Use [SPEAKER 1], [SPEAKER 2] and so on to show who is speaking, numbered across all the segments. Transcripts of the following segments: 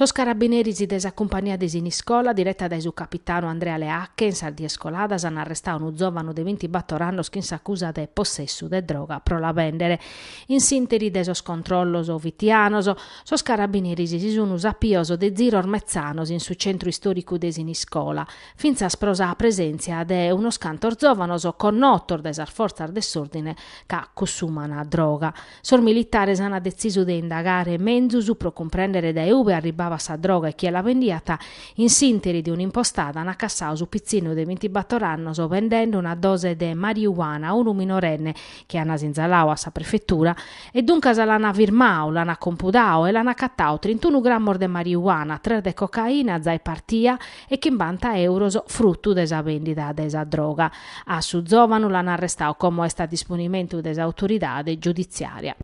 [SPEAKER 1] Sos carabineris de sa cumpania de Siniscola, direta dae su capitanu Andrea Leacche, in sas dies coladas an arrestadu unu zòvanu de bintibator annos chin s'acusa de possessu de droga pro la bèndere. In s'ìnteri de sos controllos fitianos, Sos carabineris si sun sapios de ziros metzanos in su centru istoricu de Siniscola, fintzas pro sa presenzia de unos cantos zovanos connotos dae sas forzas de s'ordine ca cussuman droga. Sos militares an detzisu de indagare menzus pro cumprendere dae ube arribabat sa droga e chie la bendiat, in s'interi de un'impostada an acassadu su pitzinu de bintibator annos vendende una dose de mariuana a unu minorenne chi ana sinzaladu a sa prefetura e duncas l'ana firmadu, l'ana compudadu e l'ana acatadu trintunu grammos de mariuana, tres de cocaina, zai partia e chimbanta euros fruttu de sa vendida de sa droga. A su zovanu l'ana arrestadu como est a disponimentu de s'autoridade giudiziaria.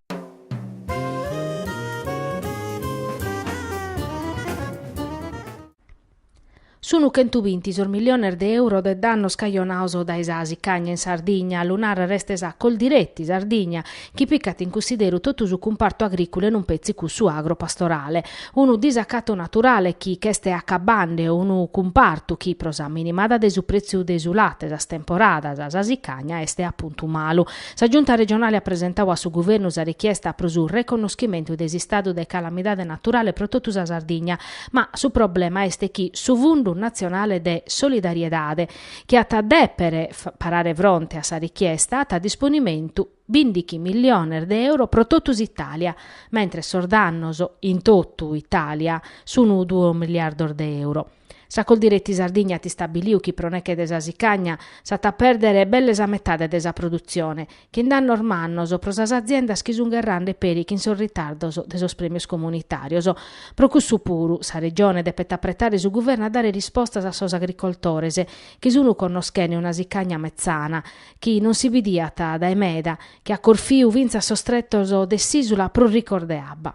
[SPEAKER 1] Sunu chentu binti sos miliones de euro de dannos cajonados dae sa sicagna in Sardigna, lu narat restesa Coldiretti Sardigna, chi picat in cussideru totu su cumpartu agriculu e non petzi cussu agropastorale. Unu disacatu naturale chi ch'est acabande unu cumpartu chi, pro sa minimada de su pretziu de su late sas temporadas, sa sicagna est a puntu malu. Sa Giunta regionale at presentadu a su Guvernu sa richiesta pro su reconnoschimentu de s'istadu de calamidade naturale pro totu sa Sardigna, Ma su problema est chi su Fundu natzionale de solidariedade, chi at a dèpere parare fronte a sa richiesta, at a disponimentu bìndighi milliones de euro pro totu s'Itàlia, mentres sos dannos in totu Itàlia sunt duos miliardos de euro. Sa Coldiretti Sardigna at istabiliu chi pro neche de sa sicagna s'at a pèrdere belle sa metade de sa produtzione, chin dannos mannos pro sas aziendas chi sun gherrende peri chin sos ritardos de sos premios comunitarios. Pro cussu puru, sa Regione depet apretare su Guverno a dare rispostas a sos agricoltores chi sun connoschende una sicagna metzana, chi non si bidiat dae meda, chi at corfiu fintzas sos tretos de s'Isula prus ricos de abba.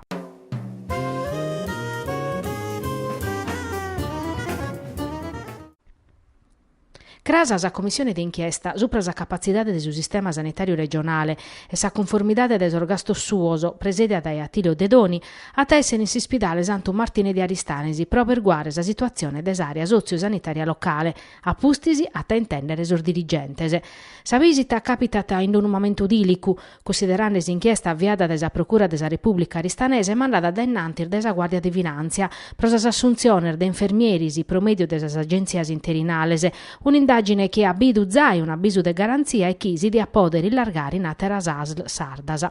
[SPEAKER 1] Crasa sa Commissione de inchiesta supra sa capatzidade de su sistema sanitàriu regionale e sa cunformidade de sos gastos suos, presèdia dae Attilio Dedoni, at a èssere in s'ispidale Santu Martine de Aristanis pro aberguare sa situatzione de s'àrea sotziu-sanitària locale, a pustis at a intèndere sos dirigentes. Sa bìsita càpitat in unu mamentu dìlicu, Cussiderande s'inchiesta aviada dae sa Procura de sa Repùblica aristanesa e mandada dae innantis dae sa Guàrdia de Finàntzia pro sas assuntziones de infermieris pro mèdiu de sas agèntzias interinales, un'indàgine chi at bidu zai un'abisu de garantzia e chi si diat pòdere illargare in àteras asl sardas.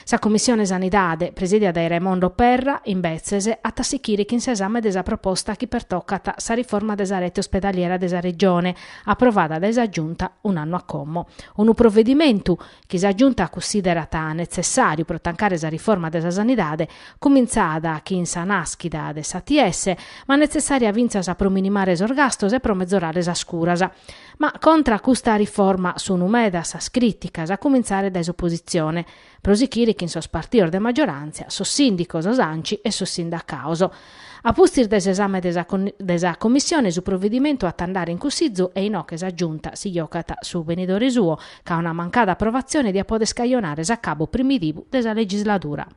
[SPEAKER 1] Sa Commissione Sanidade, presìdia dae Raimondo Perra, imbetzes, at a sichire chin s'esame de sa proposta chi pertocat sa riforma de sa rete ospedaliera de sa Regione, aprovada dae sa Giunta un'annu a como. Unu provedimentu chi sa Giunta cussiderat netzessàriu pro tancare sa riforma de sa sanidade, cumintzada chin sa nàschida de s'ATS, ma netzessària fintzas pro minimare sos gastos e pro mezorare sas curas. Ma contra a custa riforma sunt medas sas crìticas, a cumintzare dae s'opositzione, pro sichire chin sos partidos de maggiorantzia, sos sìndicos, s'Anci e sos sindacados. A pustis de s'esame de sa Commissione su provedimentu at a andare in Cussizu e inoghe sa Giunta si giogat su benidore suo, ca una mancada aprovatzione diat poder scajonare s'acabu primitivu de sa legisladura.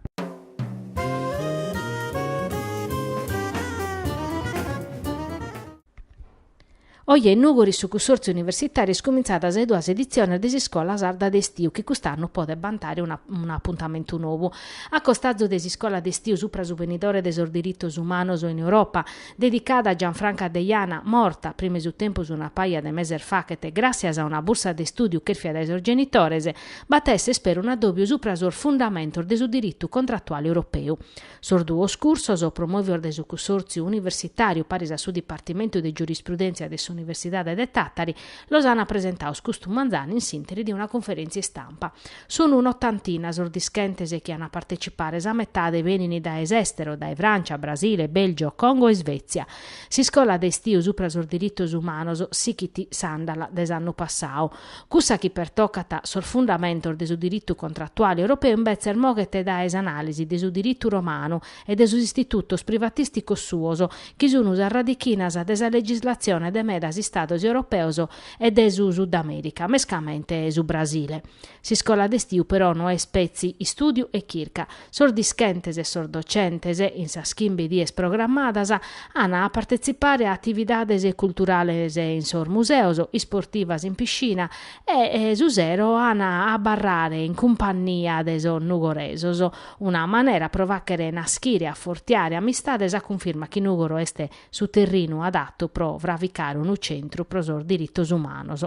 [SPEAKER 1] Oje in Nùgoro in su Cussòrtziu Universitàriu ant cumintzadu sas duas editziones de s'iscola sarda de istiu chi cust'annu podet bantare un'apuntamentu nou. A costazu de s'iscola de istiu supra su benidore de sos diritos umanos in Europa, dedicada a Gianfranca Deiana, morta prima 'e su tempus una paja de meses faghet, gràssias a una bursa de istùdiu chèrfia dae sos genitores, b'at a èssere ispera un'addòbiu supra sos fundamentos de su diritu contratuale europeu. Sos duos cursos, promòvios dae su Cussòrtziu universitàriu paris a su Dipartimentu de Giurisprudèntzia de s'Universidade de Tàtari, los ant presentados custu manzanu in s'ìnteri de una conferèntzia istampa. Sunt un'otantina sos dischentes chi ant a partecipare, sa metade benint dae s'èstero, dae Frància, Brasile, Bèlgio, Congo e Svètzia. S'iscola de istiu supra sos diritos umanos sichit s'àndala de s'annu passadu. Cussa chi pertocat sos fundamentos de su diritu contratuale europeu imbetzes moghet dae s'anàlisi de su diritu romanu e de sos istitutos privatìsticos suos, chi sun sas radichinas de sa legislatzione de medas istados europeos e de su Sudamèrica, mescamente su Brasile. S'iscola de istiu però no est petzi istùdiu e chirca, sos dischentes e sos docentes, in sas chimbe dies programmadas, an a partetzipare a atividades culturales in sos museos, isportivas in piscina e, su sero, an a abarrare in cumpannia de sos nugoresos. Una manera pro fàghere naschire e afortiare amistades a cunfirma chi Nùgoro est su terrinu adatu pro fraficare unu centru pro sos diritos umanos.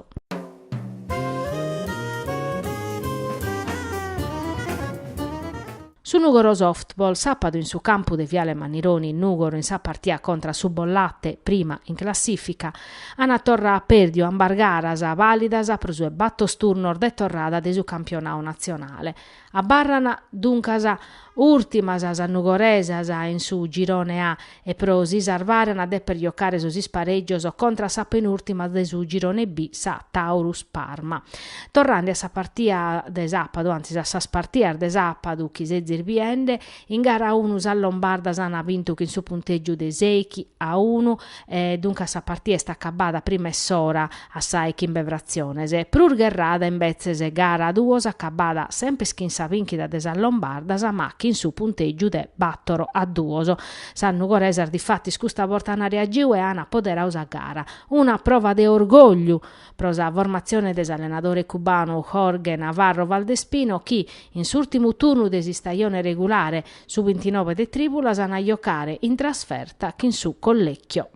[SPEAKER 1] Su Nugoro Softball sàpadu in su campu de Viale Mannironi Nugoro in sa partia contra a su Bollate, prima in classìfica, an torra pèrdiu ambas garas, vàlidas pro su 'e batos turnos de torrada de su campionau natzionale. Abarran duncas ùrtimas sas nugoresas in su Girone A e pro si sarvare an a dèpere jocare sos isparègios contra sa penùrtima de su Girone B, sa Taurus Parma. Torrande a sa partia de sàpadu, antzis a sas partias de sàpadu chi sezis biende, In gara a unu sas lombardas ant bintu chin su puntègiu de sèichi a unu e duncas sa partia est acabada prima 'e s'ora a sa 'e chimbe fratziones. Prus gherrada invetzes gara duos acabada sempres chin sa bìnchida de sas lombardas ma chin su puntègiu de bàtoro a duos. Sas nugoresas difatis custa borta ant reagiu e ant apoderau sa gara. Una prova de orgògliu pro sa formatzione de s'allenadore cubanu Jorge Navarro Valdespino chi, in s'ùrtimu turnu de s'istajone regulare, su bintinove de trìbulas an a jocare in trasferta chin su Collecchio.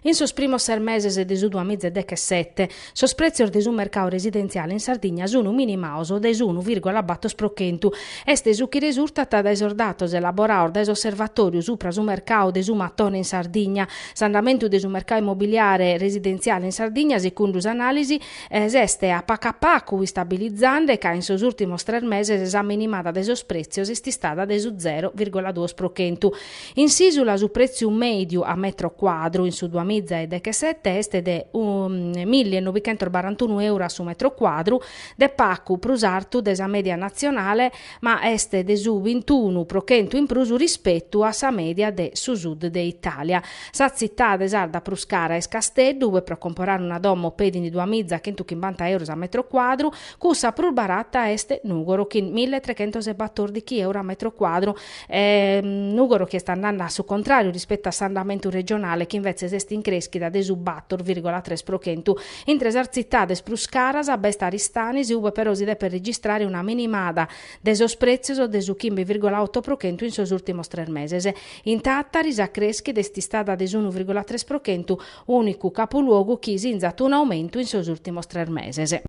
[SPEAKER 1] In sos primos ses meses de su duamiza e dechesete, sos prètzios de su mercau residentziale in Sardigna sun minimaos de s'unu vìrgula bator pro chentu. Est su chi resurtat dae sos datos elaboraos dae s'Osservatòriu supra su mercau de su matone in Sardigna. S'andamentu de su mercau immobiliare residentziale in Sardigna, sicundu s'anàlisi, s'est a pacu a pacu istabilizande ca in sos ùrtimos tres meses sa minimada de sos prètzios est istada de su zero vìrgula duos pro chentu. In s'ìsula su prètziu mèdiu a metro cuadru in su duas miza e dechesete est de milli e nobichentos barantunu euro a su metro cuadru, de pacu prus artu de sa mèdia natzionale, ma est de su bintunu pro chentu in prus rispetu a sa mèdia de su sud de Itàlia. Sa tzitade sarda prus cara est Casteddu, ue pro comporare una domo petint duas miza chentu chimbanta euros a metro cuadru, cussa prus barata est Nùgoro chin milli e trechentos e batòrdichi euro a metro cuadru, E Nùgoro chi est andande a su contràriu rispetu a s'andamentu regionale chi invetzes est in crèschida de su bator vìrgola tres pro chentu. Intre sas tzitades prus caras b'est Aristanis ue però si depet registrare una minimada de sos prètzios de su chimbe vìrgola oto pro chentu in sos ùrtimos tres meses. In Tàtari sa crèschida est istada de s'unu vìrgola tres pro chentu, ùnicu capuluogu chi sinzat un'aumentu in sos ùrtimos tres meses.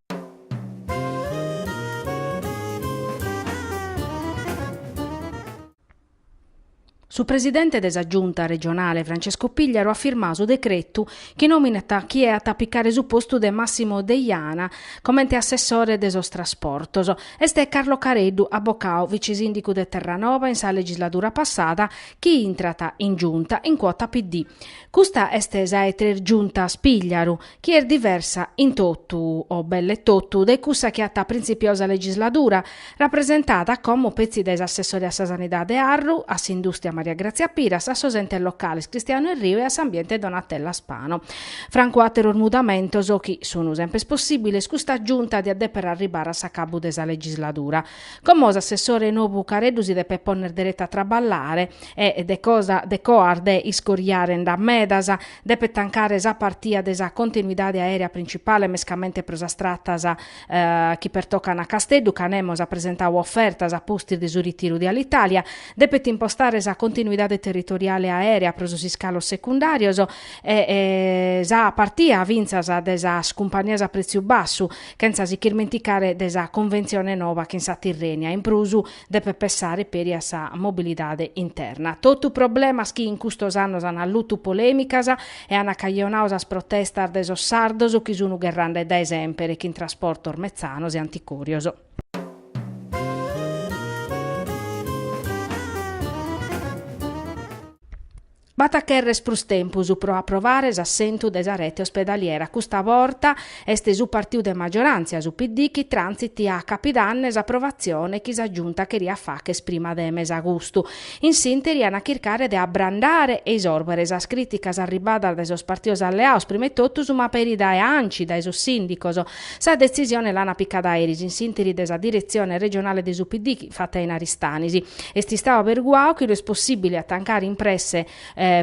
[SPEAKER 1] Su presidente de sa Giunta regionale Francesco Pigliaru at firmadu su decretu chi nominat chie at a picare su postu de Massimo Deiana comente assessore de sos trasportos. Est Carlo Careddu, abocadu, vicisìndicu de Terranova in sa legisladura passada, chi intrat in Giunta in cuota PD. Custa est sa 'e tres Giuntas Pigliaru, chi est diversa in totu o belle totu dae cussa chi at printzipiau sa legisladura, rapresentada como petzi dae s'assessore a sa Sanidade Arru, a s'Indùstria Maria Grazia Piras, a sos Entes Locales Cristianu Erriu e a s'Ambiente Donatella Spano. Francu àteros mudamentos chi sun semper possìbiles custa Giunta diat dèpere arribare a s'acabbu de sa legisladura. Como s'assessore nobu Careddu si depet pònnere dereta a traballare e de coas de iscoriare nd'at medas, Depet tancare sa partia de sa continuidade aèrea principale mescamente pro sas tratas chi pertocan a Casteddu, ca nemos at presentadu ofertas a pustis de su ritiru de Alitalia. Depet impostare sa continuidade territoriale aèrea pro sos iscalos secundàrios e sa partia fintzas de sas cumpanias a prètziu bassu, chentza si chirmenticare de sa conventzione nova chin sa Tirrènia. In prus. Depet pessare peri a sa mobilidade interna. Totu problemas chi in custos annos an allutu polèmicas e an acajonadu sas protestas de sos sardos chi sun gherrande dae semper chin trasportos metzanos e anticòrios. B'at a cherrer prus tempus pro aprovare s'assentu de sa rete ospedaliera, custa borta est su partiu de magioràntzia, su PD, chi trantzit a capidanne s'aprovatzione chi sa Giunta cheriat facher prima de mesagustu. In s'ìnteri an a chircare de abrandare e isòrbere sas crìticas arribbadas dae sos partidos alleados, prima 'e totus, ma peri dae Anci, dae sos sìndicos, Sa detzisione l'ant picada eris in s'interi de sa diretzione regionale de su PD fatta in Aristanis. Est istadu aberguadu chi no est possìbile a tancare in presse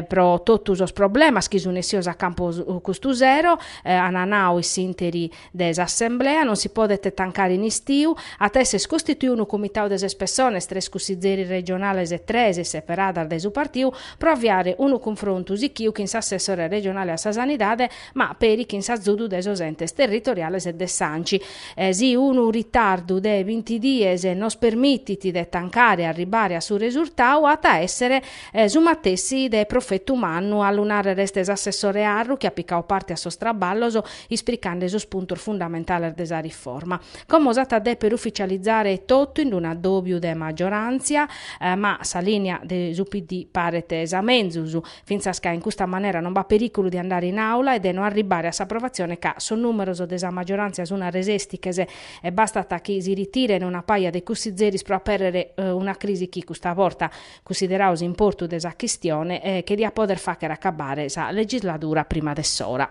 [SPEAKER 1] pro totu sos problemas chi sunt essidos a campu custu sero, ant nadu in s'interi de s'assemblea, non si podet tancare in istiu, at a èssere costituidu unu comitadu de ses pessones, tres cussizzeris regionales e tres seperadas dae su partiu, pro aviare unu cunfrontu sichiu chin s'assessore regionale a sa sanidade, ma peri chin s'azudu de sos entes territoriales e de s'Anci. Si unu ritardu de binti dies nos permitit de tancare e arribare a su resurtau, at a èssere su matessi de profetu mannu, a lu nàrrere est s'assessore Arru chi at picadu parte a sos traballos ispricande sos puntos fundamentales de sa riforma. Como s'at a dèpere ufitzializare totu in un'addòbiu de magioràntzia, ma sa lìnia de su PD paret sa menzus, fintzas ca in custa manera non b'at perìculu de andare in àula e de no arribbare a s'aprovatzione ca sos nùmeros de sa maggioràntzia sunt a resèstiches e bastat chi si ritiren una paja de cussizeris pro apèrrere una crisi chi custa borta, cunsideradu s'importu de sa chistione, che diat pòdere fàghere acabbare sa legisladura prima de s'ora.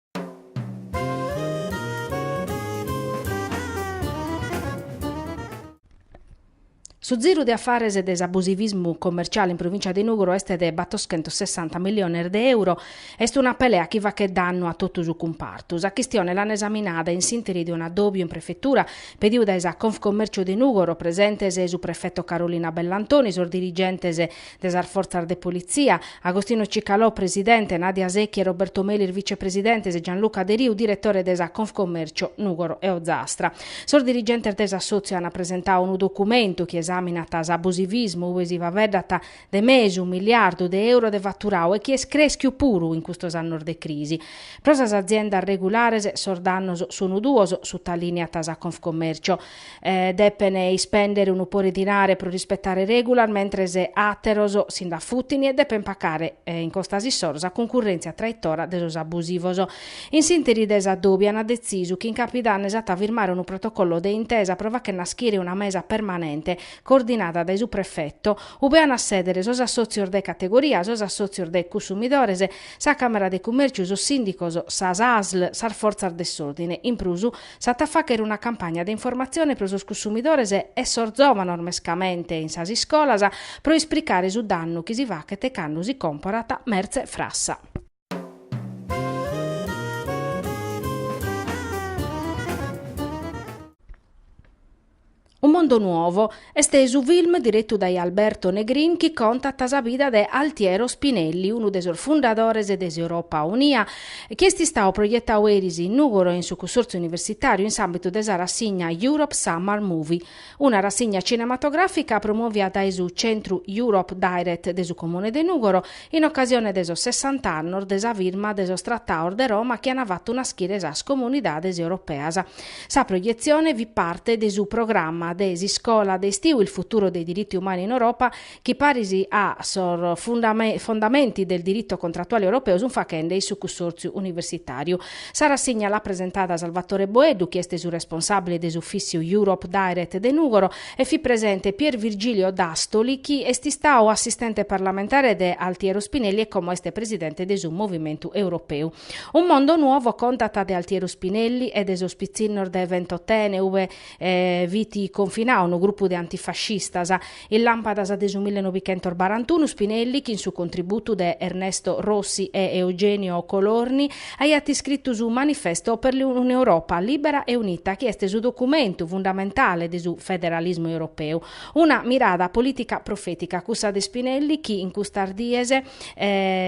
[SPEAKER 1] Su ziru de afares de s'abusivismu commerciale in provìncia de Nùgoro est de battoschentos sessanta milliones de euro. Est una pelea chi faghet dannu a totu su cumpartu. Sa chistione l'an esaminada in s'ìnteri de un'adòbiu in prefetura pediu dae sa Confcommercio de Nùgoro, presentes su prefeto Carolina Bellantoni, sos dirigentes de sas fortzas de politzia, Agostino Cicalò, presidente, Nadia Secchi e Roberto Melis, vicepresidentes, Gianluca Deriu, diretore de sa Confcommercio Nùgoro e Ozastra. Sos dirigentes de s'assòtziu ant presentadu unu documentu chi esàminat s'abusivismu ube si faveddat de mesu miliardu de euro de faturadu e chi est crèschiu puru in custos annos de crisi. Pro sas aziendas regulares sos dannos sunt duos, sutalìniat sa Confcommercio. depen ispèndere unu pore 'e dinare pro rispetare règulas, mentres àteros si nd'afutin e depen pacare in costas issoro sa cuncurrèntzia traitora de sos abusivos. In s'ìnteri de s'adòbiu an detzisu chi in capidanne s'at a firmare unu protocollo de intesa pro fagher naschire una mesa permanente coordinada dae su prefeto, ube an a sèdere sos assòtzios de categoria, sos assòtzios de cussumidores, sa Càmera de Cummèrciu, sos sìndicos, sas asl, sas fortzas de s'òrdine. In prus, S'at a fàghere una campagna de informatzione pro sos cussumidores e sos zòvanos mescamente in sas iscolas pro ispricare su dannu chi si faghet cando si còmporat mertze frassa. Un mondo nuovo est su film diretu dae Alberto Negrin chi contat sa vida de Altiero Spinelli, unu de sos fundadores de s'Europa Unia, chi est istadu proietadu eris in Nùgoro in su Cussòrtziu Universitàriu in s'àmbitu de sa rassigna Europe Summer Movie, una rassigna cinematogràfica promovida dae su Centru Europe Direct de su Comune de Nùgoro in ocasione de sos sessant'annos de sa firma de sos Tratados de Roma chi ant fatu naschire sas Comunidades Europeas. Sa proietzione fit parte de su programma de s'iscola de estiu Il futuro dei diritti umani in Europa chi paris a sos fondamenti del diritto contrattuale europeo sunt faghende in su cussòrtziu universitàriu. Sa rassigna l'at presentada Salvatore Boeddu chi est su responsàbile de s'ufìssiu Europe Direct de Nùgoro e fit presente Pier Virgilio Dastoli chi est istadu assistente parlamentare de Altiero Spinelli e como est presidente de su Movimentu Europeu Un mondo nuovo contat de Altiero Spinelli e de sos pitzinnos de Ventotene ue fit confinadu unu grupu de antifascistas. In làmpadas de su millenovicentos barantunu Spinelli, chin su contributu de Ernesto Rossi e Eugenio Colorni, aiat iscritu su Manifesto per un'Europa libera e unita chi est su documentu fundamentale de su federalismu europeu. Una mirada polìtica profètica cussa de Spinelli chi in custas dies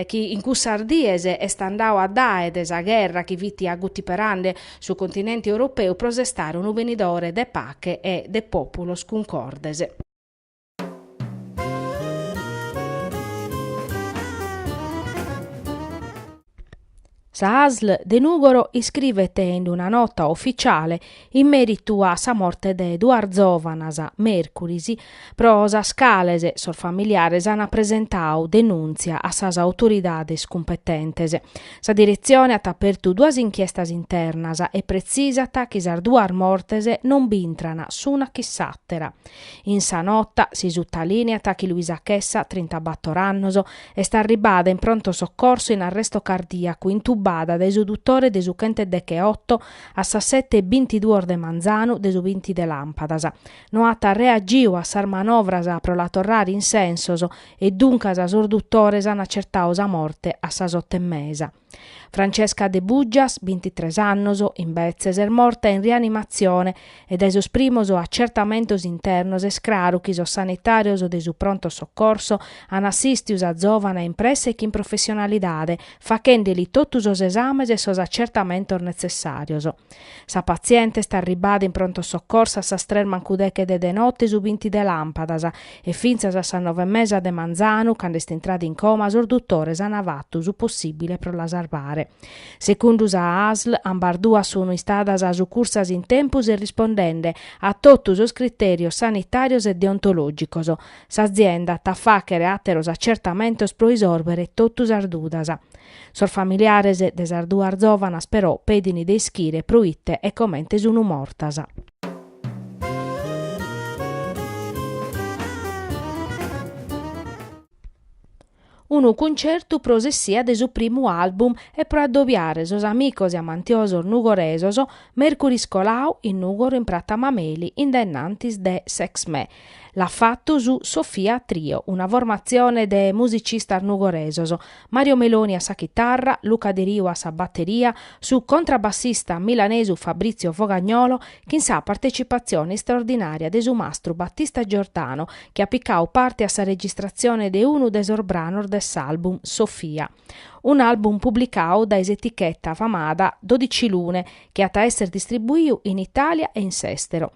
[SPEAKER 1] chi in cussas dies est andadu addae de sa gherra chi fit agutiperande su continente europeu pro sestare unu benidore de pache e de pòpulos cuncordes. Sa ASL de Nùgoro iscrivet in una nota oficiale in mèritu a sa morte de duas zòvanas, mèrcuris, pro sas cales sos familiares ant presentadu denùntzia a sas autoridades cumpetentes. Sa diretzione at apertu duas inchiestas internas e pretzisat chi sas duas mortes non b'intran s'una chin s'àtera. In sa nota si sutalìneat chi Luisa Chessa, trintabator annos, Est arribada in pronto soccorso in arresto cardìacu, intubada dae su dutore de su chent'e deche oto a sas sete e bintiduos de manzanu de su binti de làmpadas. No at reagiu a sas manovras pro la torrare in sensos e duncas sos dutores an acertadu sa morte a sas oto e mesa. Francesca Debuggias, bintitres annos, imbetzes, est morta in rianimatzione e dae sos primos atzertamentos internos est craru chi sos sanitàrios de su pronto soccorso an assìstidu sa zòvana in presse e chin professionalidade, faghende-li totu sos esames e sos atzertamentos netzessàrios. Sa patziente est arribada in pronto soccorso a sas tres mancu deche de de note su binti de làmpadas e fintzas a sas nove e mesa de manzanu, cando est intrada in coma, sos dutores ant fatu su possìbile pro la sarvare. Segundu sa ASL, ambas duas sun istadas sucursas in tempus e rispondende a totu sos critèrios sanitàrios e deontològicos. S'azienda at a fàghere àteros atzertamentos pro isòrbere totu sas dudas. Sos familiares de sas duas zòvanas però pedin de ischire pro ite e comente sun mortas. Unu cuncertu pro s'essia de su primu album e pro addobiare sos amicos e amantiosos nugoresos, mèrcuris colau in Nugoro in Pratta Mameli in denantis de s'ExMè, L'at fatu su Sofia Trio, una formatzione de musicistas nugoresos, Mario Meloni a sa chitarra, Luca Deriu a sa bateria, su contrabassista milanesu Fabrizio Fogagnolo, chin sa partecipatzione istraordinària de su mastru Battista Giordano, chi at picadu parte a sa registratzione de unu de sos branos de s'album Sofia. un'album publicau dae s'eticheta famada Dodici Lune chi at a èssere distribuiu in Itàlia e in s'èstero.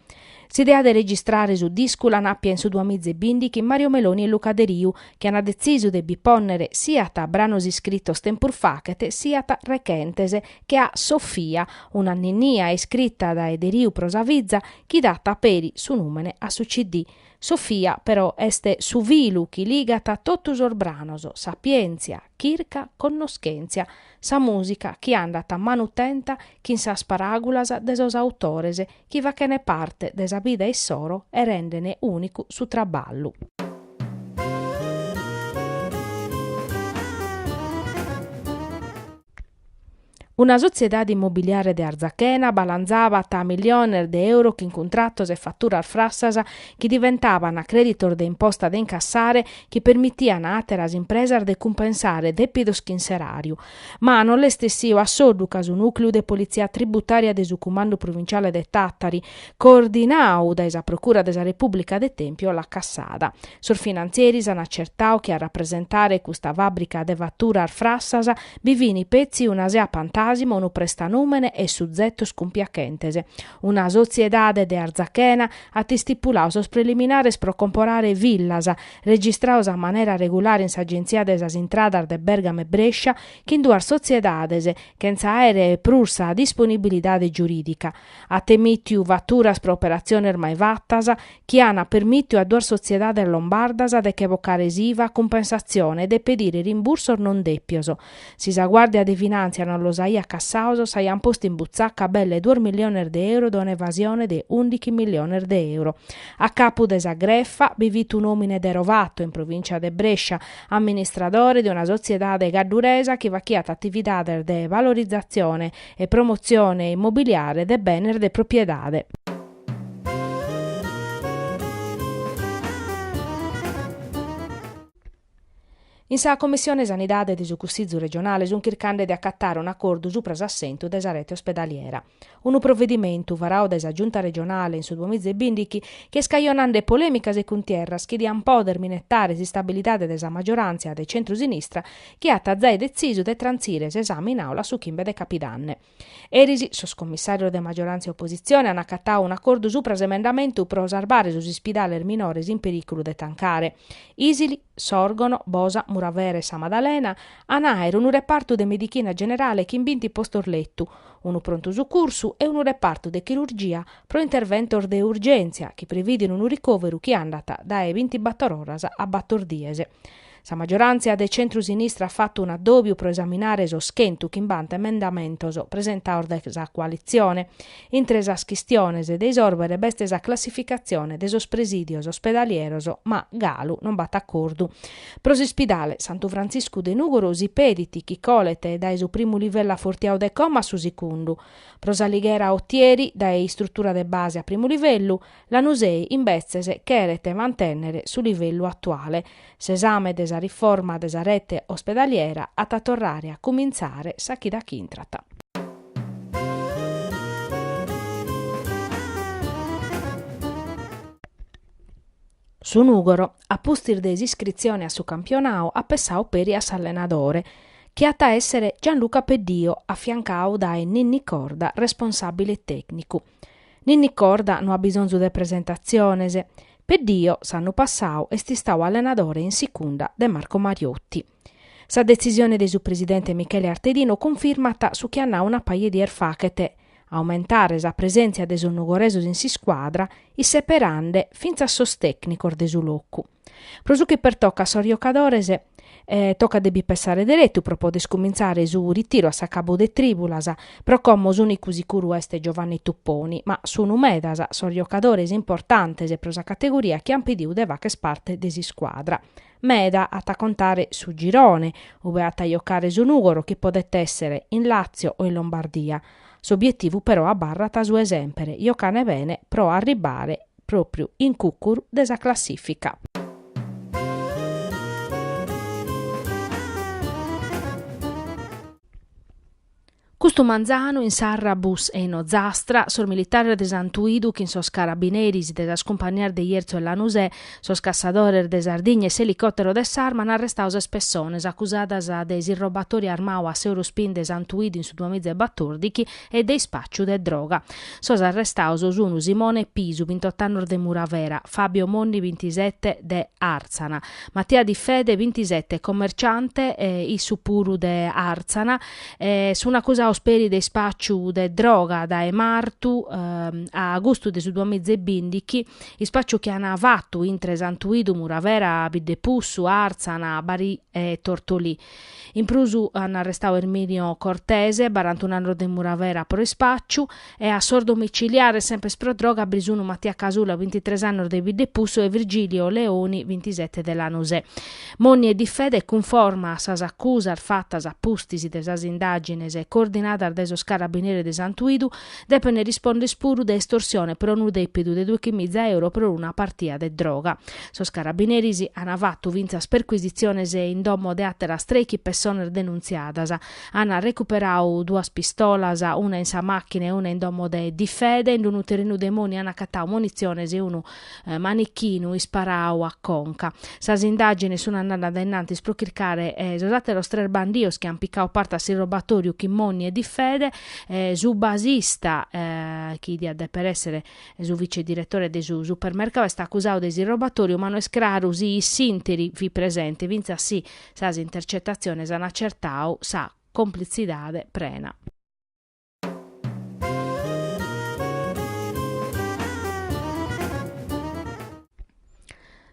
[SPEAKER 1] S'idea de registrare su discu l'an àpia in su duamiza e bìndichi Mario Meloni e Luca Deriu chi an detzisu de bi pònnere siat branos iscritos tempus fachet siat rechentes che a Sofia, una ninnia iscrita dae Deriu pro sa fiza chi dat peri su nùmene a su CD. Sofia, però, est su filu chi ligat a totu sos branos, sapièntzia, chirca, connoschèntzia, sa mùsica chi andat a manu tenta chin sas paràgulas de sos autores chi fachene parte de sa vida issoro e rendene ùnicu su traballu. Una sotziedade immobiliare de Arzachena balanzabat a milliones de euro chin cuntratos e faturas frassas chi diventabant crèditos de imposta de incassare chi permitian a àteras impresas de cumpensare dèpidos chin s'eràriu. Ma non l'est essiu a soddu ca su nùcleu de politzia tributària de su Cumandu Provinciale de Tàtari, coordinau dae sa Procura de sa Repùblica de Tèmpio l'at cassada. Sos finantzieris an acertau chi a rapresentare custa fàbrica de faturas frassas bi fini petzi una sea pantàsima, unu prestanùmene e suzetos cumpiachentes. Una sotziedade de Arzachena at istipulau sos preliminares pro comporare villas, registrados a manera regulare in s'Agentzia de sas Intradas de Bergamo e Brescia, chin duas sotziedades, chentza àere prus sa disponibilidade giurìdica. At emìtiu faturas pro operatziones mai fatas chi an permìtiu a duas sotziedades lombardas de che bocare s'IVA a cumpensatzione e de pedire rimbursos non dèpios. Si sa Guàrdia de Finàntzia non los aiat cassaos, s'aiant postu in butzaca belle duos miliones de euro de un'evasione de ùndichi miliones de euro. A capu de sa grefa bi fit un'òmine de Rovato, in provìncia de Brescia, amministradore de una sotziedade cadduresa chi fachiat atividades de valorizatzione e promotzione immobiliare de benes de propiedade. In sa Commissione Sanidade de su Cussizu regionale sunt chircande de acatare un'acordu supra s'assentu de sa rete ospedaliera. Unu provedimentu varau dae sa Giunta regionale in su duamiza e bìndichi chi est cajonande polèmicas e cuntierras chi diant pòdere minetare s'istabilidade de sa maggioràntzia de centru-sinistra chi at zai detzisu de trantzire s'esame in Aula su chimbe de capidanne. Eris sos commissàrios de magioràntzia e opositzione an acatau un'acordu supra s'emendamentu pro sarbare sos ispidales minores in perìculu de tancare. Isili, Sòrgono, Bosa, Muravera e Sa Madalena an a àere unu repartu de medichina generale chin binti postos letu, unu prontu sucursu e unu repartu de chirurgia pro interventos de urgèntzia chi previdin unu ricòveru chi andat dae bintibator oras a bator dies. Sa maggiorantzia de centru-sinistra at fatu un'addòbiu pro esaminare sos chentu chimbanta emendamentos presentados dae sa coalitzione. Intre sas chistiones de isòrbere b'est sa classificatzione de sos presìdios ospedalieros ma galu non b'at acordu. Pro s'ispidale Santu Frantziscu de Nùgoro si pedit chi colet dae su primu livellu afortiadu de como a su sicundu. Pro s'Alighera-Otieri dae istrutura de base a primu livellu. Lanusei, imbetzes, cheret mantènnere su livellu atuale. S'esame de sa riforma de sa rete ospedaliera at a torrare a cumintzare sa chida ch'intrat. Su Nùgoro, a pustis de s'iscritzione a su campionau, at pessau peri a s'allenadore, chi at a èssere Gianluca Peddio, afiancau dae Ninni Corda, responsàbile tècnicu. Ninni Corda no at bisonzu de presentatziones, Peddio s'annu passadu est istadu allenadore in sicunda de Marco Mariotti. Sa detzisione de su presidente Michele Artedino cunfirmat su chi at nadu una paja 'e dies fachet, aumentare sa presèntzia de sos nugoresos in s'iscuadra isseperende fintzas sos tècnicos de su locu. Pro su chi pertocat sos jocadores, tocat de bi pensare deretu pro poder cumintzare su ritiru a s'acabu de trìbulas, pro como s'unicu sicuru est Giovanni Tupponi, ma sunu medas sos jocadores importantes pro sa categoria chi an pediu de fàcher parte de s'iscuadra. Meda at a contare su girone, ue at a jocare su Nùgoro chi podet essere in Làtzio o in Lombardia. S'obietivu però abarrat su 'e semper, jocare bene pro arribbare pròpriu in cùcuru de sa classìfica. Custu manzanu in Sarrabus e in Ozastra, sos militares de Santuidu chin sos carabineris de sas cumpanias de Jerzu e Lanusè, sos cassadores de Sardigna e s'elicòtero de s'Arma an arrestadu sas pessones acusadas de s'irrobatori armadu a s'Eurospin de Santuidu in su duamiza e batòrdichi, e de ispàciu de droga. Sos arrestados sun Simone Pisu, bintot'annos de Muravera, Fabio Monni, bintisete, de Àrtzana, Mattia Di Fede, bintisete, commerciante, issu puru de Àrtzana, sun acusados peri de ispàciu de droga dae martu a agustu de su duamiza e bìndichi, ispàciu chi an fatu intre Santuidu, Muravera, Biddepussu, Àrtzana, Bari e Tortolì. In prus an arrestau Erminio Cortese, barantun'annos de Muravera pro ispàciu, e a sos domiciliares semper pro droga bi sun Mattia Casula, bintitres annos de Biddepussu e Virgilio Leoni, bintisete de Lanusè. Monni e Di Fede cunforma a sas acusas fatas a pustis de sas indàgines coordinadas dae sos carabineres de Santuidu Depene risponder puru de estorsione pro unu depidu de doichi miza euro pro una partia de droga. Sos carabineris ana fatu fintzas percuisitziones in domo de ateras treichi pessones denuntziadas. Ana recuperadu duas pistolas, una in sa machina e una in domo de Di Fede. In unu terrenu de Moni ana acatadu munitziones e unu manichinu isparadu a conca. Sas indagines sun andadas in antis pro chircare sos ateros tres bandios chi an picadu parte a s'irrobatoriu chin Moni e Di Fede. E su basista chi diat deper èssere su vicediretore de su supermercau, est acusau de s'irrobatoriu ma no est craru si in s'ìnteri fit presente fintzas si sas intercetatziones an acertau sa complitzidade prena.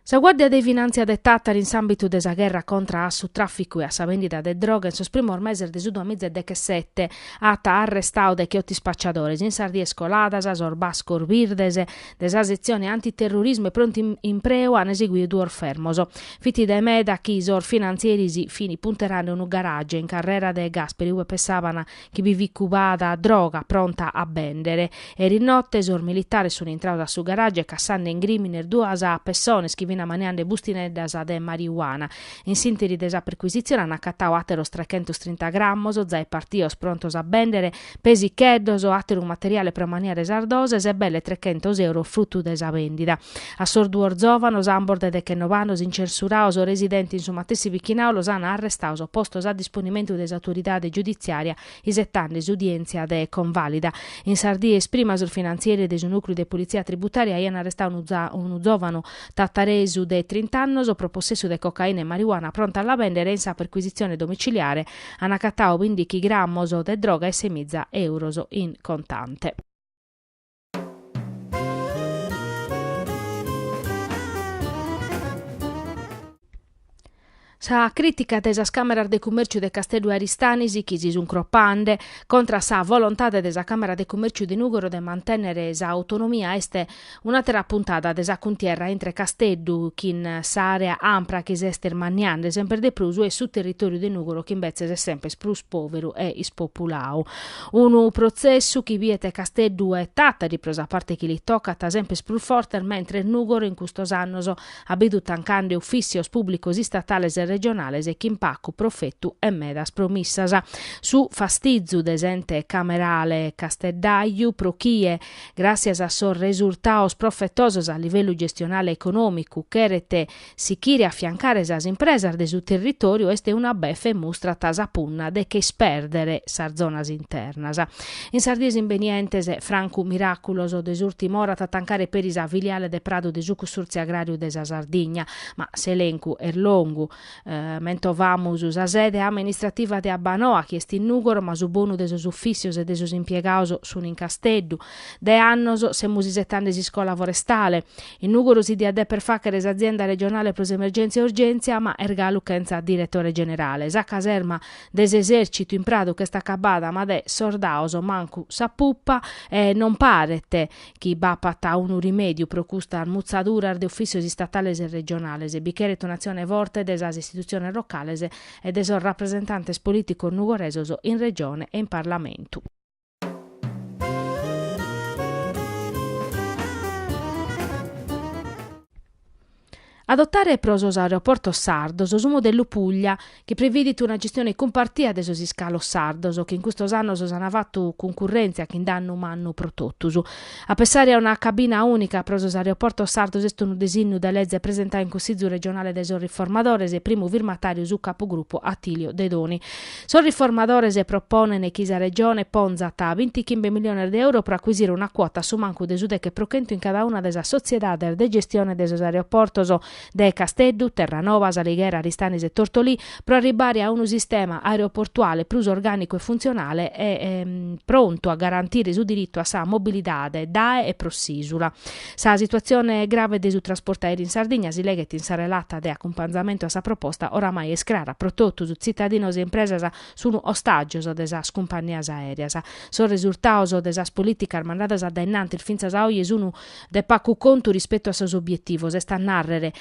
[SPEAKER 1] Sa Guàrdia de Finàntzia de Tàtari in s'àmbitu de sa gherra contra a su tràficu e a sa bèndida de droga in sos primos meses de su duamiza e dechesete at arrestadu decheoto ispacciadores in sas dies coladas sos bascos birdes de sa setzione antiterrurismu e prontu impreu an eseguidu duos fermos. Fit dae meda chi sos finantzieris fin punterande unu garage in Carrera De Gasperi ube pessàbant chi bi fit cubada droga pronta a bèndere. Eris note sos militares sunt intrados a su garage cassande in grìmines duas pessones chi fin maniande bustineddas de marijuana. In s'ìnteri de sa percuisitzione ant acatadu àteros trechentos trinta grammos, zai partidos prontos a bèndere, pesicheddos, àteru materiale pro maniare sas doses e belle trechentos euros frutu de sa bèndida. A sos duos zòvanos ambos de dechennobe annos incensurados residente in su matessi bichinau los an arrestados, postos a disponimentu de s'autoridade giuditziària isetande s'udièntzia de convàlida. In sas dies prima sos finantzieri de su nùcleu de politzia tributària aian arrestadu unu zòvanu tataresu de trint'annos pro possessu de cocaina e marijuana pronta a la bèndere e in sa percuisitzione domiciliare an acatadu bìndichi grammos de droga e semiza euros in contante. Sa crìtica de sas Càmeras de Cumèrciu de Casteddu e Aristanis chi si sunt cropande contra sa volontade de sa Càmera de Cumèrciu de Nùgoro de mantènnere s'autonomia est un'àtera puntada de sa cuntierra intre Casteddu chin s'àrea ampra chi s'est irmanniande semper de prus e su territòriu de Nùgoro chi imbetzes est semper prus pòveru e ispopuladu. Unu protzessu chi biet Casteddu e Tàtari, pro sa parte chi li tocat, semper prus fortes, mentres Nùgoro in custos annos at bidu tancande ufìssios pùblicos istatales e regionales e chin pacu profetu e medas promissas. Su fastizu de s'ente camerale casteddaju pro chie, gràssias a sos resurtados profetosos a livellu gestionale e econòmicu, cheret Sichire a afiancare sas impresas de su territòriu est una befe e mustrat sa punna de che ispèrdere sas zonas internas. In sas dies imbenientes, francu miràculos de s'ùrtima ora at a tancare peri sa filiale de Pradu de su Cussùrtziu Agràriu de sa Sardigna, ma s'elencu est longu. Mentovamus sa sede amenistrativa de Abbanoa, chi est in Nùgoro, ma su bonu de sos ufìssios e de sos impiegados sunt in Casteddu. De annos semus isetende s'iscola forestale. In Nùgoro si diat dèpere fàghere s'azienda regionale pro s'emergèntzia e urgèntzia, ma est galu chentza diretore generale. Sa caserma de s'esèrcitu in Pradu ch'est acabada, ma de sordaos mancu sa pupa, e non paret chi b'apat unu rimèdiu pro custas mutzaduras de ufìssios istatales e regionales. Bi cheret un'atzione forte de sas istitutziones locales e de sos rapresentantes polìticos nugoresos in Regione e in Parlamentu. Adotare pro sos aeroportos sardos su modellu Puglia, chi previdit una gestione cumpartia de sos iscalos sardos, chi in custos annos s'ana fatu cuncurrèntzia chin dannu mannu pro totus. A pensare a una cabina ùnica pro sos aeroportos sardos est unu disinnu de leze presentadu in Cussizu regionale dae sos Riformadores e primu firmatàriu su capugrupu Attilio Dedoni. Sos riformadores proponent chi sa Regione ponzat binti chimbe miliones de euros pro acuisire una cuota a su mancu de su deche pro chentu in cada una de sas sotziedades de gestione de sos aeroportos de Casteddu, Terranoba, S'Alighera, Aristanis e Tortolì pro arribbare a unu sistema aeroportuale prus orgànicu e funtzionale e prontu a garantire su diritu a sa mobilidade dae e pro s'ìsula. Sa situatzione grave de su trasportu aèreu in Sardigna, si leghet in sa relata de acumpanzamentu a sa proposta, oramai est crara pro totus, tzitadinos e impresas sun ostàgios de sas cumpannias aèreas. Sos resultados de sas polìticas mandadas dae innantis fintzas a oje sun de pagu contu rispetu a sos obietivos, est a nàrrere,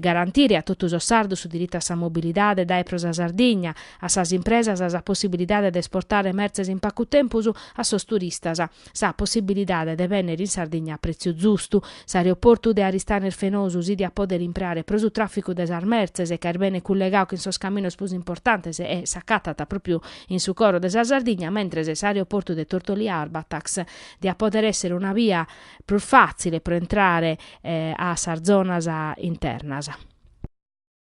[SPEAKER 1] garantire a totu sos sardos su diritu a sa mobilidade dae e pro sa Sardigna, a sas impresas sa possibilidade de esportare mertzes in pagu tempus, a sos turistas. sa possibilidade de bènnere in Sardigna a prètziu zustu. S'aeroportu de Aristanis Fenosu si diat pòdere impreare pro su tràficu de sas mertzes ca est bene cullegadu chin sos caminos prus importantes e s'acatat pròpiu in su coro de sa Sardigna, mentres s'aeroportu de Tortolì-Arbatax diat pòdere èssere una bia prus fàtzile pro intrare a sas zonas internas.